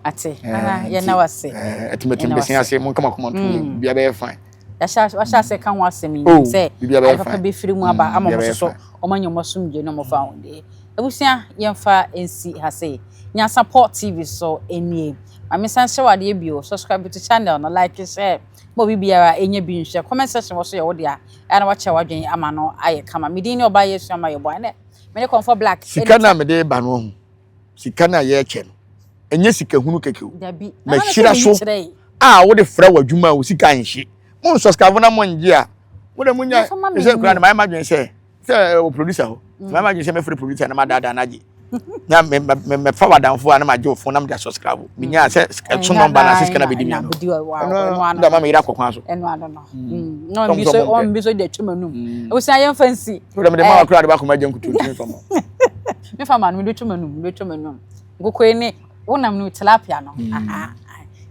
ate eh, yɛna wase eh, ɛtimatim bɛsen ase mo nkama koma ntom mm. bia bɛyɛ fine wahyɛ ase ka ho asɛm yi oh, sɛ adepapa bɛfiri mu aba mm, ama mo soso ɔma nyɛ ɔma somdwe no mofa ho deɛ abusua yɛmfa nsi ha sei nyansapɔ tv so nie maame san hyɛ wadeɛ bio subscribe to channel no like share ma obi biara ɛnyɛ bi nhwɛ comment section wɔ so yɛ wo dea ɛyɛ na wakyerɛ w'adwene ama no ayɛ kama me din ne ɔbaa yɛsua ma yɛbɔ ɛnɛ me ne kɔmfɔ black sika no a mede ba no ahu sika no a yɛkyɛ no ɛnyɛ sika hunu kɛkɛ o mahyira so a wode frɛ w'adwuma a wo sika nhye mo nsɔ sika fo na mo ngye a mo de mo nya ɛsɛ kura no mayɛ madwene sɛ sɛ wɔ producer hɔ mayɛ madwene sɛ mɛfrɛ producer na madaadaa no agye na me me me fa wadanfo a na ma gye ofon na me da subscribe me nya sɛ ɛso nɔmba na sika na bedi mi ano ɛno da ma me yira kɔ kwan so ɛno ano no na ɔmbi so ɔmbi so de atwa mu anum ewusa yɛn fa nsi o da me de ma wakora de ba kɔma gye nkutu ntumi fa mu me fa ma no me de atwa mu anum me de atwa mu anum nkoko yi ne wonam no tilapia no aha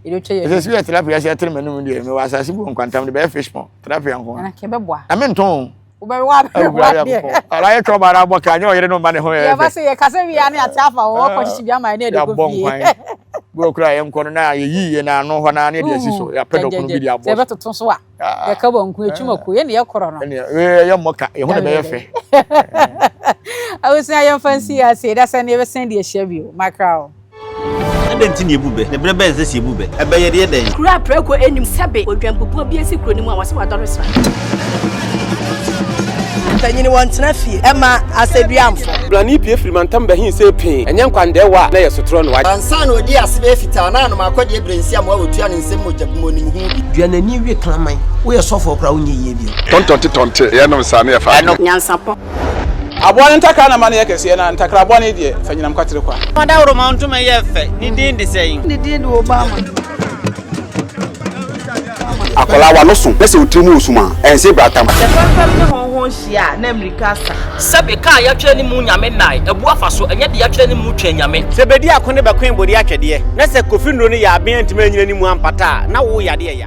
ɛsɛ sɛ yɛ tilapia sɛ ɛtere m'anum deɛ mewɔ asase bu nkwantam de bɛyɛ fish pond tilapia nko a na mentɔn wobɛwe aberewa deɛ ara yɛ twɛ ɔma ara bɔ ka nyɛ ɔyere no mma ne ho yɛ yɛba sɛ yɛkasa wie a ne ate afa wɔ wɔkɔ hyehye bi ama ne ɛde kɔ fie bi okura yɛ nkɔ no na yɛyi yɛ na ano hɔ na ne de asi so yɛapɛ dɔ kunu bi de abɔ sɛ bɛtoto so a yɛka bɔ nku atwuma ko yɛ ne yɛ korɔ no yɛ mmɔ ka yɛ ho na bɛyɛ fɛ awusua yɛmfa nsi ase da sɛ ne yɛbɛsɛn de ahyia bio makra o Adɛn nti na yɛbu bɛ, na berɛ bɛn sɛ sɛ yɛbu bɛ a, ɛbɛyɛ deɛ dɛn? Kuro a prɛko nnim sɛbe odwanpopɔn bi asi kuro no mu a wɔse wadɔre sra. Mpanyini wɔn tena fie ɛma asɛduamfo. Blani pie firi mantam bɛhin sɛ pee, ɛnyɛ nkwandɛɛ wɔ a na ɛyɛ sotorɔ no wagye. Ansa na ɔdi ase bɛyɛ fitaa na anom akɔdeɛ berɛ nsi amoa ɔtua ne nsam mogya gu mu ɔnim ho bi. Dua n'ani we kraman. Woyɛ sɔfoɔ koraa wonyɛ yie bio. Tɔntɔnte tɔnte yɛ nom saa ne yɛ fa adwene. Nyansapɔ Aboa no ntakra na ma no yɛ kɛseɛ, na ntakra bɔne deɛ, fa nyinam kwatere kwa. Fa dawuroma ntoma yɛ fɛ, ne din de sɛn? Ne din de Obama. Akwadaa a w'ano so na sɛ wo tiri mu wɔ sum a, ɛnsee bratamu. Sɛ fɛmfɛm ne hɔnho hyia a, na mmirika asa. Sɛbe kaa a yɛatwerɛ ne mu Nyame nnae, abu afa so, ɛnyɛ de yɛatwerɛ ne mu Twɛn Nyame. Sɛ bɛdi ako ne bɛkoe bode atwɛdeɛ, na sɛ kofi nnuro ne yaaben antumi annyina ne mu ampata a, na wo yadeɛ ya.